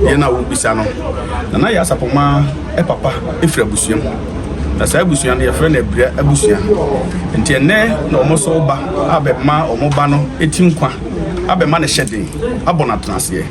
yɛn na wobisa no na na yɛ asapɔma papa firi abusua mu na saa abusua no yɛfrɛ no abira abusua nti ɛnɛ na wɔn so ba abɛma wɔn ba no ti nkwa abɛma no hyɛ den abɔ no atena aseɛ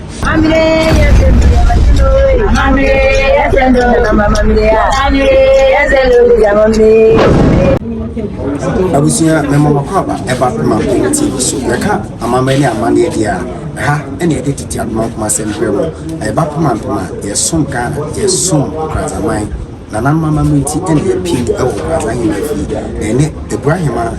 abusua mɛmɔ makɔ aba ɛba pema penti so yɛka amammerɛ ne amanneɛ deɛ a Ha na yɛde tete adomankoma asɛm brɛ mo, na yɛba pem ampem a, yɛsom Ghana, yɛsom Nkoradzaman. Nananom amambra ntsi na yɛpiem wɔ Nkoradza Ahenman fie, na yɛne Ebura Hemaa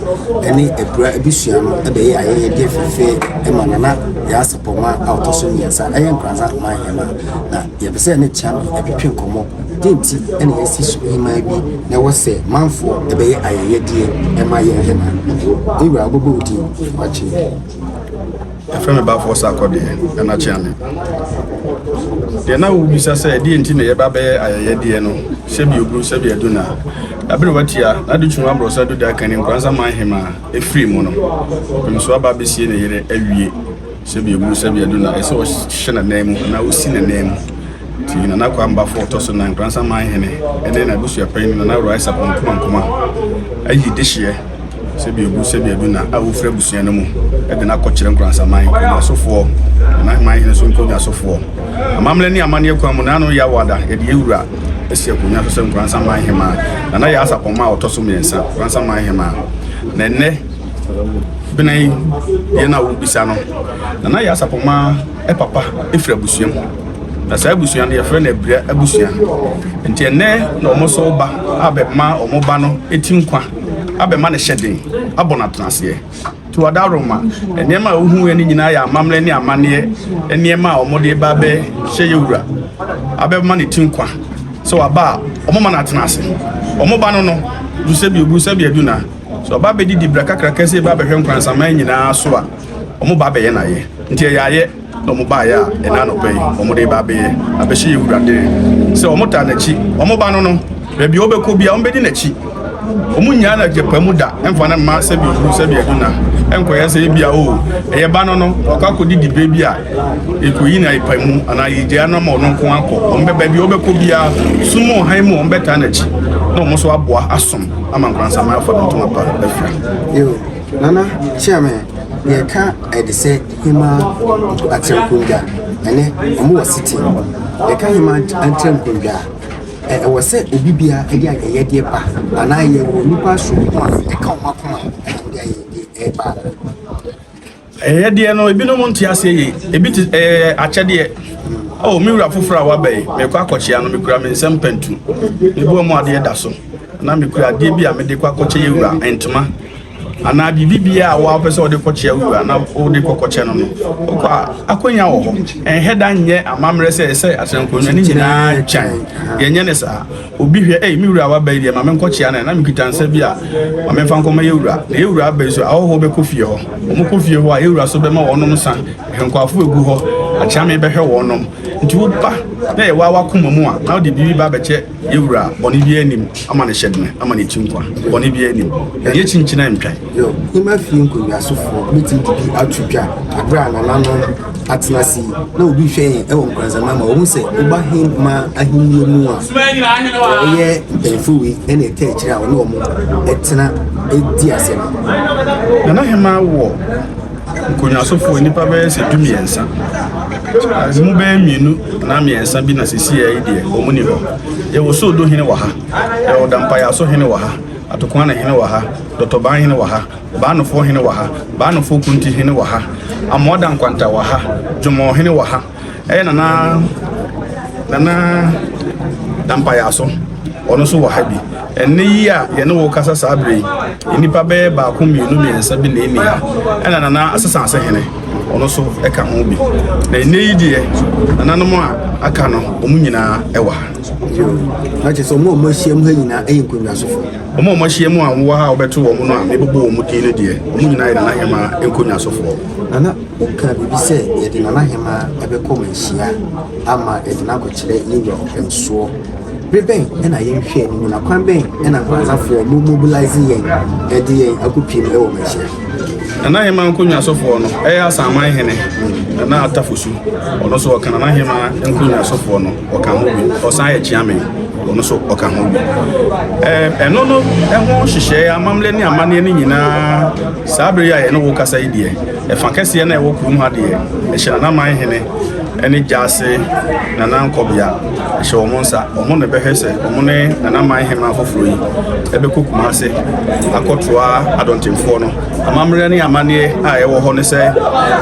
ne Ebura ebusua no bɛyɛ ayɛyɛdeɛ fɛfɛɛ ma Nana Yaa Sapɔwma a ɔtɔ so mmiɛnsa yɛ Nkoradza Man Hemaa. Na yɛpɛ sɛ yɛne Kyame twetwe nkɔmmɔ, dɛn nti na yɛasi so hemaa bi na ɛwɔ sɛ manfoɔ bɛyɛ ayɛyɛdeɛ ma yɛn hemaa? Me wura, wobɛbɔ wo din, wakyɛ yi. yɛfrɛ no baafoɔ sa akɔdeɛ ɛna kyeame deɛ na wobisa sɛ ɛdeɛ nti na yɛba bɛyɛ ayɛyɛdeɛ no sɛbi ogu sɛbi adu na ɛbere watia na de twuma borɔ sɛ do da kani nkoransa man hema ɛfiri mu no ɔpem so aba bɛsie ne yere awie sɛbi ogu sɛbi adu na ɛsɛ ɔhyɛ ne nan mu na ɔsi ne nan mu Enti Nana Kwambafo a ɔtɔ so nnan, Nkoransa Man Hene, ne n'abusuapanyin Nana Uraisa Bonkuman Kumah ayi dehyeɛ Sebiabu Sebiaduna a ɔfiri abusua no mu de no akɔkyerɛ Nkoransa Man nkonnwasofoɔ, Nana Man Hene so nkonnwasofoɔ. Amammerɛ ne amanneɛ kwan mu, Nana Yaw Ada Yɛdeyɛwura asi akonnwa so sɛ Nkoransa Man Hemaa, Nana Yaa Sapɔmma a ɔtɔ so mmiɛnsa, Nkoransa Man Hemaa. Na ɛnnɛ, Benin, deɛ na wobisa no, Nana Yaa Sapɔmma, papa firi abusua mu na saa abusua no yɛfrɛ no abira abusua nti ɛnɛ na wɔn nso ba abɛma wɔn ba no ti nkwa abɛma no hyɛ den abɔ no atenaseɛ nti wɔda aroma nneɛma a wohu yɛ no nyinaa yɛ amammerɛ ne amanneɛ nneɛma a wɔde ba abɛhyɛ yɛ wura abɛma no ti nkwa sɛ wɔaba a wɔn ma no atena ase wɔn ba no no du sɛ bi ogu sɛ bi adu na sɛ ɔba bɛdidi bra kakra kɛse ba bɛhwɛ nkwansaman nyinaa so a wɔn ba abɛyɛ n'ayɛ nti ɛyɛ ayɛ na wɔn baayɛ a ɛna anɔpa yi wɔn de ba abɛyɛ abɛhyɛ yɛ wura dene sɛ wɔn ta n'akyi wɔn ba no no baabi a wɔbɛkɔ bi a wɔn bɛdi n'akyi wɔn nyinaa na gyapa mu da ɛnfa ne mma sɛbi owuru sɛbi aduna ɛnkɔyɛ sɛ ebi a o oh, ɛyɛ ba no no ɔkɔ akɔdi di bɛ bi a ekoyi na epa mu anaa yɛgya no ama ɔno nko akɔ wɔn bɛ baabi a wɔbɛkɔ biara sum ɔhan mu wɔn bɛta n'akyi na wɔn nso aboa asom ama nkwansaman afa no ntoma pa afira. Nana kyerɛ me nea ɛka Ɛdesɛ hemma atrɛnkondwa ɛne ɔmo wɔ Sitting. Yɛka hemma atrɛnkondwa a, ɛ ɛwɔ sɛ obi bia ɛde ayɛyɛdeɛ ba anaa yɛwɔ nnipa asoɔmmo a ɛka ɔmo akoma a ɔmo de ayɛyɛdeɛ ɛɛba anaa? Ɛyɛ deɛ no, ebinom nte aseɛ yei. Ebi te ɛyɛ eh, akyɛdeɛ. Oh, me wura foforɔ a waba yi, mekɔ akɔkyea no, mekura me nsam pantu. Mebɔ mu adeɛ da so. Na mekura adeɛ bi a mede kɔ akɔkyɛ yɛ wura, ntoma. Anaa biribi biara a wɔapɛ sɛ wɔde kɔkyea wura na wɔde kɔkɔkyɛ no no. Wokɔ a, akɔnya wɔ hɔ. Ɛnhɛ da nyɛ amammerɛ sɛ ɛsɛ atɛnkonwa ne nyinaa gyan. Yɛnyɛ ne saa. Obi hwɛ, Ei, me wura a waba yi deɛ, ma menkɔkyea no ɛ, na mekita nsa bi a, ma memfa nkɔma yɛn wura. Na yɛn wura aba yi nso, ahɔhoɔ bɛkɔ fie hɔ. Wɔkɔ fie hɔ a, yɛn wura nso bɛma wɔnom nsã. Hwɛ, nkwaafoɔ regu hɔ, akyea mebɛhwɛ wɔnom. Enti woba na yɛwaa w'akoma mu a, na wode biribi ba abɛkyɛ yɛn wura a, bɔne biara nnim, ama no hyɛdene, ama no ati nkwa. Bɔne biara nnim. Yɛn ani akyinkyina ntwa. Hoima fie nkonnwasofoɔ bɛtumi de bi ato dwa berɛ a nananom atena ase yi na obi hwɛ yɛn wɔ nkwansama ma wɔhu sɛ woba Hoima ahennie mu a wɔyɛ mpanyinfoɔ wei ɛna ɛka akyire a wɔne wɔn ɛtena ɛdi ase no. Nana Hoima wɔ nkonnwasofoɔ nnipa bɛyɛ sɛ du mmiɛnsa ase mu bɛyɛ mmienu na mmiɛnsa bi na sisi yɛ deɛ wɔn ni hɔ yɛwɔ soodo hene wɔ ha yɛwɔ dampayaso hene wɔ ha Atokoane hene wɔ ha, Dɔtɔbaa hene wɔ ha, Baanofoɔ hene wɔ ha, Baanofoɔ Kunti hene wɔ ha, Amoa Dankwanta wɔ ha, Dwomɔɔ hene wɔ ha, ɛyɛ Nana Nana Dampayaaso ɔno nso wɔ ha bi. Ɛnne yi a yɛne wo kasa saa berɛ yi, nnipa bɛyɛ baako mmienu mmiɛnsa bi na ɛni ha, ɛna Nana Asesaase hene ɔno nso ɛka ho bi. Na ɛnne yi deɛ, nananom a aka no, wɔn nyinaa wɔ ha. Yo, na kyerɛ sɛ wɔn a wɔahyia mu ha nyinaa yɛ nkonnwasofo. Wɔn a wɔahyia mu a wɔwɔ ha a wɔbɛto wɔn no a mebobɔ wɔn din no deɛ, wɔn nyinaa yɛ Nana Hemaa nkonnwasofoɔ. Nana, wokaa biribi sɛ yɛde Nana Hemaa bɛkɔ manhyia ama yɛde no akɔkyerɛ yɛn wura ɔpɛnsoɔ. Bere bɛn na yɛnhwɛ anim na kwan bɛn na Nkranzafoɔ mo mobilise yɛn de yɛn akɔpiem wɔ manhyia? Nana Hemaa nkonnwasofoɔ no, ɛyɛ Asaman Hene Nana Atafosu. Ɔno nso ɔka Nana Hemaa nkonnwasofoɔ no. ɔka ho bi ɔsan yɛ kyeame ɔno nso ɔka ho bi ɛno no ɛho hyehyɛɛ amammerɛ ne amanneɛ no nyinaa saa bere yi a yɛne wo kasa yi deɛ ɛfa kɛseɛ na ɛwɔ kurom ha deɛ ɛhyɛ nanaman hene ɛne gyaase nana nkɔbea ɛhyɛ wɔn nsa wɔn na ɛbɛhwɛ sɛ wɔn ne nanaman hema afoforɔ yi ɛbɛkɔ kumase akɔtoa adɔntenfoɔ no Amammerɛ ne amanneɛ a ɛwɔ hɔ ne sɛ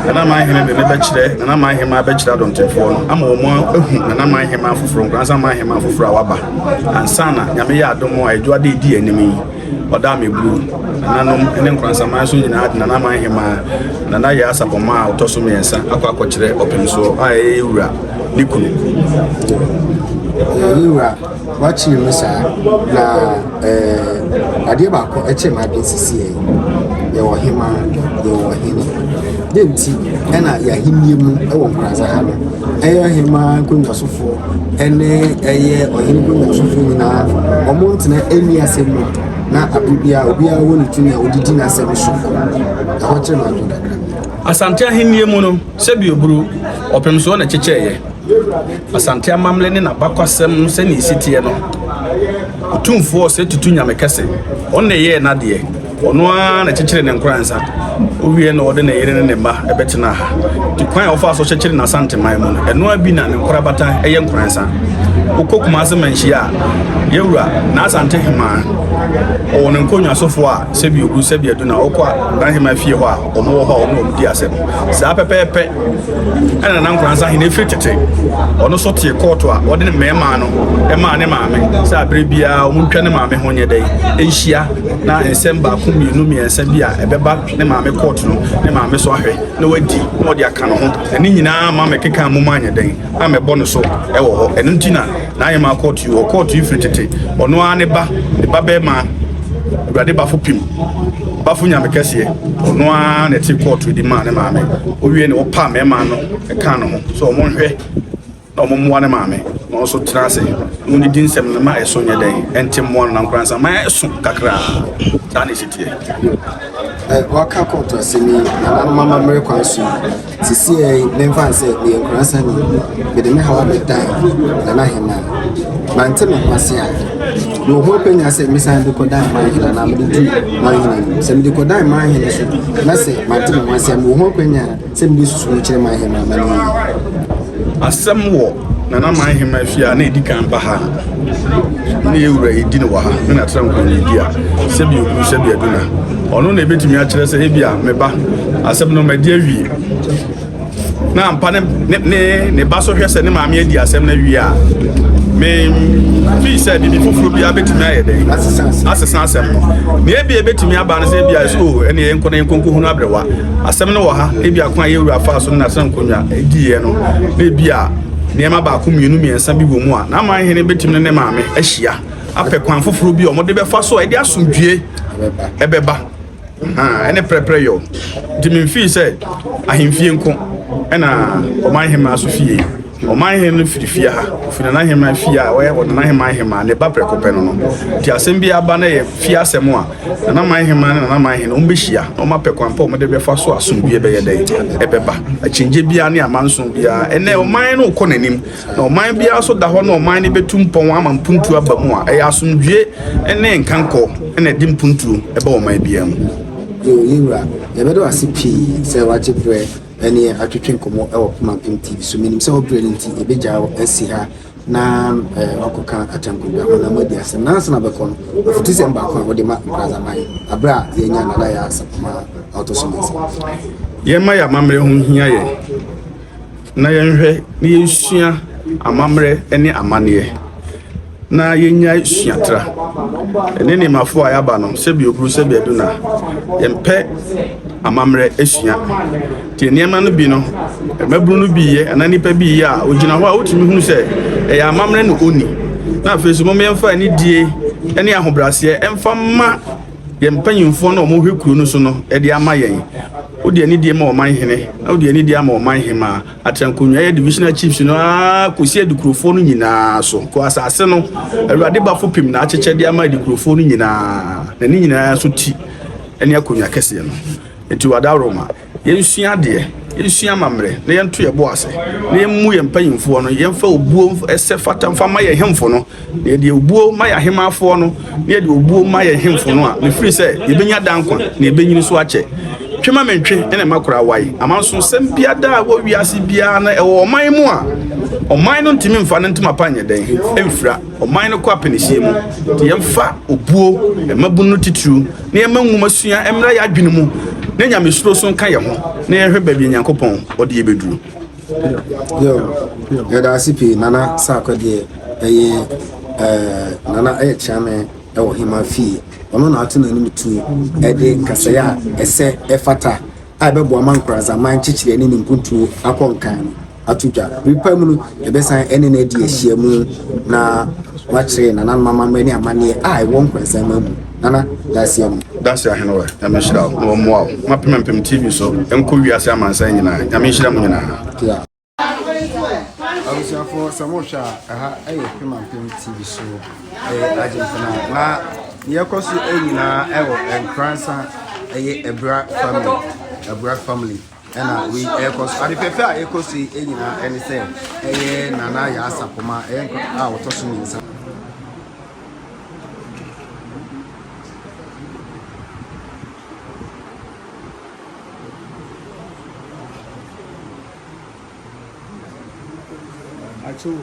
Nana Manhene de ne bɛkyerɛ Nana Manhema bɛkyerɛ adɔntenfoɔ no ama wɔn ahu Nana Manhema afoforɔ nkoransa Manhema afoforɔ a waba ansa na nyame yɛ adom a ɛdwo ade edi anim yi ɔda ameburu nananom ne nkoransaman so nyinaa de Nana Manhema Nana yɛ asapɔma a ɔtɔ so mmiɛnsa akɔ akɔkyerɛ ɔpɛnsoɔ a ɛyɛ wura ne kunu. Yɛwura Wakyere mu saa na eh, adeɛ baako ɛkyɛ ma adeɛ sisi yɛ yɛwɔ hema yɛwɔ hene de nti ɛna yɛahennie mu ɛwɔ nkurasa ha no ɛyɛ hema nkonnwasofoɔ ɛne ɛyɛ ɔhene nkonnwasofoɔ nyinaa ɔmo ntena ɛni asɛm mu na abere biara obiara wɔ ne tumi a ɔde di n'asɛm so ɛhɔ kyerɛ no adwo kakra asante ahennie mu no Sɛbi oburu ɔpem soɔ na ɛkyekyɛeɛ. Asante amammerɛ ne n'abakwasɛm sɛnea ɛsi teɛ no, Otumfoɔ Ɔsɛetutu Nyame Kɛse, Ɔno na ɛyɛɛ n'adeɛ, Ɔno ara na ɛkyekyeree ne nkoransa, Ɔwieɛ na ɔde ne yere ne ne mma bɛtenaa ha. Nti kwan a ɔfaa so kyekyeree n'Asanteman mu no, ɛno ara bi na ne nkorabata yɛ nkoransa. Wokɔ Kumase Manhyia a, Yawura, N'Asante Hemaa, ɔwɔ ne nkonnwasofoɔ a, Sɛbi oburu, sɛbi adu na wokɔ a, N'Aheman fie hɔ a, wɔn wɔ hɔ a wɔn na wɔn di asɛm saa pɛpɛɛpɛ ɛna nana nkoransa hene efiri tete ɔno nso tie kɔɔto a wɔde ne mmarima no ɛmaa ne maame sɛ abere biara wɔn ntwa ne maame ho nyɛ dɛ nhyia na nsɛm baako mmienu mmiɛnsa bi a ɛbɛba ne maame kɔɔto no ne maame so ahwɛ na wadi na wɔde aka no ho ɛne nyinaa ma mɛkeka mu ma anyɛ dɛn na mɛbɔ no so ɛwɔ hɔ ɛno nti na N'ahemmaa kɔɔto yi, ɔkɔɔto yi firi tete, ɔno ara ne ba, ne ba bɛrima, Awurade bafo pim, bafo nyame kɛseɛ, ɔno ara na ɛte kɔɔto di maa ne maame. Owie na ɔpa mmarima no ɛka no ho sɛ wɔn nhwɛ na wɔn mmoa ne maame na wɔn nso tena ase na wɔn didi nsɛm no ma ɛso nyɛ dɛn ɛnte mmoa no na nkoransa ma ɛso kakra saa na ɛsi teɛ. Waka kɔɔto asɛm yi nananom amammerɛ kwan so yi. Sesei yi, memfa no sɛ meyɛ nkorasani, mede me haw abɛdan Ghana Aheman. Mante me ho ase a, mewɔ ho akwanya sɛ mesan de kɔdan Manhene anaa mede tu Manhene anim. Sɛ mede kɔdan Manhene so na sɛ mante me ho ase a, mewɔ ho akwanya sɛ mede susuw no kyerɛ Manhene ma no ayi. Asɛm wɔ Nana man hema fie a na edi kan ba ha no ne ewura edi no wɔ ha me na tra nkɔnidi a sɛbi ogu sɛbi aduna ɔno na ebetumi akyerɛ sɛ ebi a me ba asɛm no mɛde awie na ampa ne ne ne ba so hwɛ sɛ ne maame adi asɛm no awie a me fi sɛ bibi foforɔ bi abetumi ayɛ dɛ asesa asɛm no na ebi ebetumi aba no sɛ ebi a ɛsɛ o ɛne yɛn nkɔ na yɛn nkɔnkɔ hunu abrewa Asɛm no wɔ ha, ebia kwan a yɛn wura faa so no na sɛ nkonnwa diiɛ no, na ebia nneɛma baako mmienu mmiɛnsa bi wɔ mu a, n'aman hene betumi ne ne maame ahyia apɛ kwan foforɔ bi a wɔde bɛfa so a ɛde asomdwie ɛbɛba. ɛne prɛprɛ yɔ nti memfii sɛ ahemfie nko ɛna ɔman hemmaa so fie. Ɔmanhene no firi fie ha, ɔfiri nanaheman fie a ɔyɛ wɔ nanaheman hemaa ne ba prɛko pɛ no no. Nti asɛm bi aba na ɛyɛ fie asɛm a, nanaman hemaa ne nanaman hene wɔn bɛhyia na wɔn apɛ kwan pa a wɔn de bɛfa so a asomdwie bɛyɛ dɛn? Ɛbɛba. Akyinnye biara ne amanson biara, ɛnnɛ ɔman no rekɔ n'anim, na ɔman biara nso da hɔ na ɔman no bɛtu mpɔn ama mpuntuo aba mu a, ɛyɛ asomdwie ne nkankɔ na ɛde mpuntuo ba ɔman biara mu. Yɛwɔ yɛn wura. Yɛbɛda wo ase pii sɛ woagye berɛ ne atwetwe nkɔmmɔ wɔ poma mpem TV so. Menim sɛ wobrɛ no nti, yɛbɛgyaa wo asi ha na wakɔka atankodwa ho na moadi asɛm. Nansa na bɛkɔ no, afutusɛm baako a wode ma Nkrazaman aberɛ a yɛanya Nana Yaa Sapoma a ɔtɔ so mmiɛnsa. Yɛmma yɛn amammerɛ ho nhia yɛn, na yɛnhwɛ na yɛnsua amammerɛ ne amanneɛ. na yɛnyae suatra. Ɛne ne mafo a yɛaba no, sɛbi oburu sɛbi adu na yɛmpɛ amammerɛ asua. Te nneɛma no bi no, mmabunu no bi yɛ anaa nnipa bi yɛ a, ogyina hɔ a wotumi hunu sɛ ɛyɛ amammerɛ na onni. Na afei so, moma yɛmfa anidie ne ahobrɛaseɛ ɛmfa ma yɛn mpanyimfoɔ na wɔhwɛ kuro no so no ɛde ama yɛn. Wode anidie ma ɔman hene na wode anidie ama ɔman hemaa. Ateankonwa yɛ divisional chiefs no ara kɔsi adikurofoɔ no nyinaa so. Kɔ asase no, Awurade bafo pem na akyekyɛ de ama adikurofoɔ no nyinaa, na ne nyinaa nso ti ne akonwa kɛseɛ no. Enti wadaworo ma yɛnsua adeɛ, yɛnsua amammerɛ, na yɛnto yɛn bo ase, na yɛmmu yɛn mpanimfoɔ no, yɛmfa obuo sɛ fata mfa mma yɛn hemfo no, Na yɛde obuo ma yɛn ahemmanfoɔ no, na yɛde obuo ma yɛn hemfo no a, ɛfiri sɛ yɛbɛnya daa nkwa, na yɛbɛnyini so akyɛ. Twe ma mentwe, ɛna makora awae. Amansoɔnsɛm biara da a ɛwɔ wiase biara na ɛwɔ ɔman mu a, ɔman no ntumi mfa no ntoma pa nyɛ dɛn mfira. Ɔman no kɔ apɛnihyeɛ mu. Nti yɛmfa obuo, mmabunu no titiriw, na yɛmma nwomasua mmra yɛn adwene mu, na nyamesuro nso nka yɛn ho, na yɛnhwɛ baabi a Nyankopɔn ɔde yɛn bɛduru. yɛda ase pii nana saakɔ deɛ ɛyɛ ɛɛ nana ɛyɛ kyerɛmɛ ɛwɔ hema fie ɔno na ato n'anim tu ɛde nkasɛɛ a ɛsɛ ɛfata a ɛbɛboa ma nkorazaman nkyekyerɛ ne ne mpuntuo akɔ nkan no ato dwa nipa mu no ɛbɛsan ɛne no adi ahyia mu na wakyerɛ nana no amammerɛ ne amanneɛ a ɛwɔ nkorazaman mu Nana Dasia mu. Dasia Henewa, Nyame nhyira wo na ɔmmoa wo ma Pem Mpem TV so nkɔ wiase amansan nyinaa. Nyame nhyira mo nyinaa. Abusuafoɔ sɛ mohwɛ a ɛha ɛyɛ Pema Mpem TV so ɛyɛ Agyenkana na deɛ ɛkɔ so nyinaa ɛwɔ Nkoransa ɛyɛ Abura family Abura family ɛna wei ɛkɔ so ade fɛfɛ a ɛkɔ so yi nyinaa ɛne sɛ ɛyɛ nana yɛ asapoma ɛyɛ nkɔ a wɔtɔ so mmiɛnsa Achoo.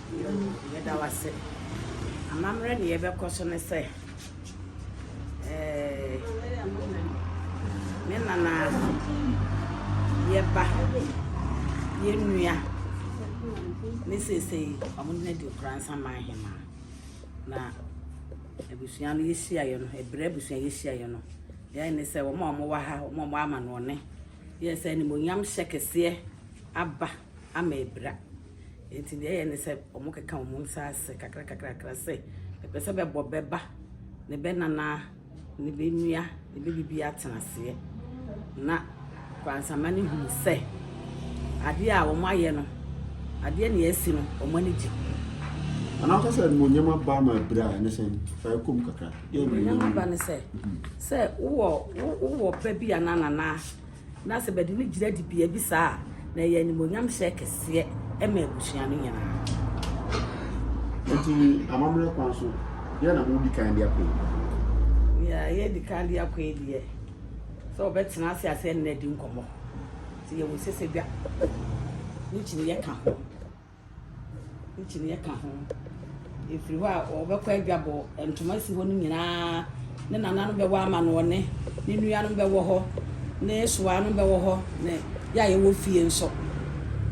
Nyew, yɛda wo ase. Amammerɛ na yɛbɛkɔ so ne sɛ, eh, me nana, yɛ ba, yɛ nua, ne seesei ɔmo na di Nkoransa man hemaa. Na abusua no yɛhyiaeɛ no, ɛberɛ abusua yɛhyiaeɛ no, deɛ ayɛ ne sɛ wɔn a wɔwɔ ha, wɔn a wɔwɔ amanoɔne, yɛ sɛ animuonyamhyɛ kɛseɛ aba ama abira. Enti nea ɛyɛ ne sɛ wɔkeka wɔn nsa ase kakrakakra sɛ ɛpɛ sɛ bɛbɔ bɛba ne bɛnana ne bɛnua ne bɛbibi atena aseɛ na kwansama no hunu sɛ adeɛ a wɔn ayɛ no adeɛ ne asi no wɔn ani gye ana ɔka sɛ animonyam aba ma abira a ɛne sɛn fa ɛkɔm kakra animonyam aba ne sɛ sɛ wowɔ wowɔ ba bi anaa nanaa Na sɛ bɛde no gyina dibea bi saa a, na ɛyɛ animuonyam hyɛ kɛseɛ ma abusua no nyinaa. Enti amammerɛ kwan so, deɛn na modi kan de akɔ yi? Nea yɛdi kan de akɔ yi deɛ, sɛ wɔbɛtena ase ase ne no adi nkɔmmɔ. Nti yɛwɔ sɛ sɛ dwa no kyini yɛka ho. Akyinnyeɛ ka ho. Ɛfiri hɔ a, wɔbɛkɔ adwabɔ. Ntoma si hɔ no nyinaa. Ne nananom bɛwɔ amanɔne. Ne nuanom bɛwɔ hɔ. Ne soanom bɛwɔ hɔ. Ne yɛ a yɛwɔ fie nso.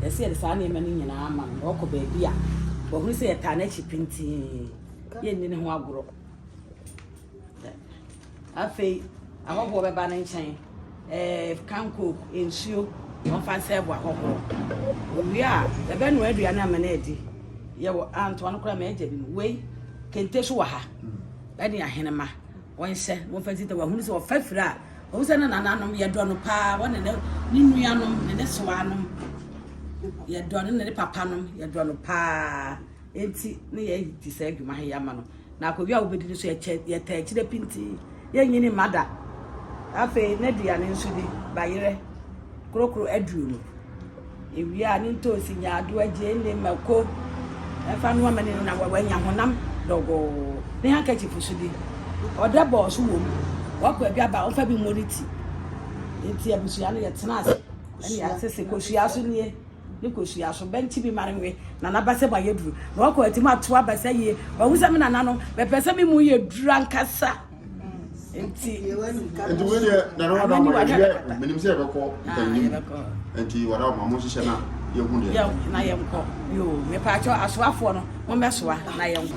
Ɛsɛ sɛ yɛde saa nneɛma no nyinaa ma no na ɔkɔ baabi a wahunu sɛ yɛtaa n'akyi pintinn. Yɛnni ne ho agorɔ. Afei ahɔhoɔ bɛba ne nkyɛn, ɛɛ, kankook, nsuo, wɔmfa nsɛɛ bo ahɔhoɔ. Owie a, yɛbɛnoa aduane ama no adi. Yɛwɔ antoa no koraa, m'agya bi no, wei, kente so wɔ ha, ɛne ahenema, wɔnhyɛ, wɔmfa nsi ta, wɔahunu sɛ ɔfa firi a, ɔhu sɛ ne nananom, yɛdɔ no paa, wɔne ne, ne nuanom, ne ne sewaanom, yɛdɔ no, ne ne papanom, yɛdɔ no paa. nti ne yɛadi saa adwuma he ama no na akonnwa a wobɛdi no so yɛtaa akyire pintinn yɛnyini mma da afei n'aduane nso di bayerɛ korokoro aduro mu ewia a ne ntoosi nyaadoa gyeene mako ɛfa no amani no na wanya honam dɔgɔɔ ne handkerchief so di ɔdɛ bɔɔ so wɔ mu wakɔ aduaba a ɔfa bi mmɔ ne ti nti abusua no yɛtena ase ɛne yɛasese kosua so nie Ne kosua so bɛ nti me ma no we na n'abasa mu ayɛ duru na ɔkɔ ati mu ato abasa yie wahu sɛ me nana no mɛpɛ sɛ me mu yɛ duru ankasa nti nti wei deɛ nana wada ama yɛdeɛ menim sɛ yɛbɛkɔ mpanim nti wada ama mo nhyehyɛ na yɛhu deɛ na yɛnkɔ yo mepaakyɛ asoafoɔ no mommɛsoa na yɛnkɔ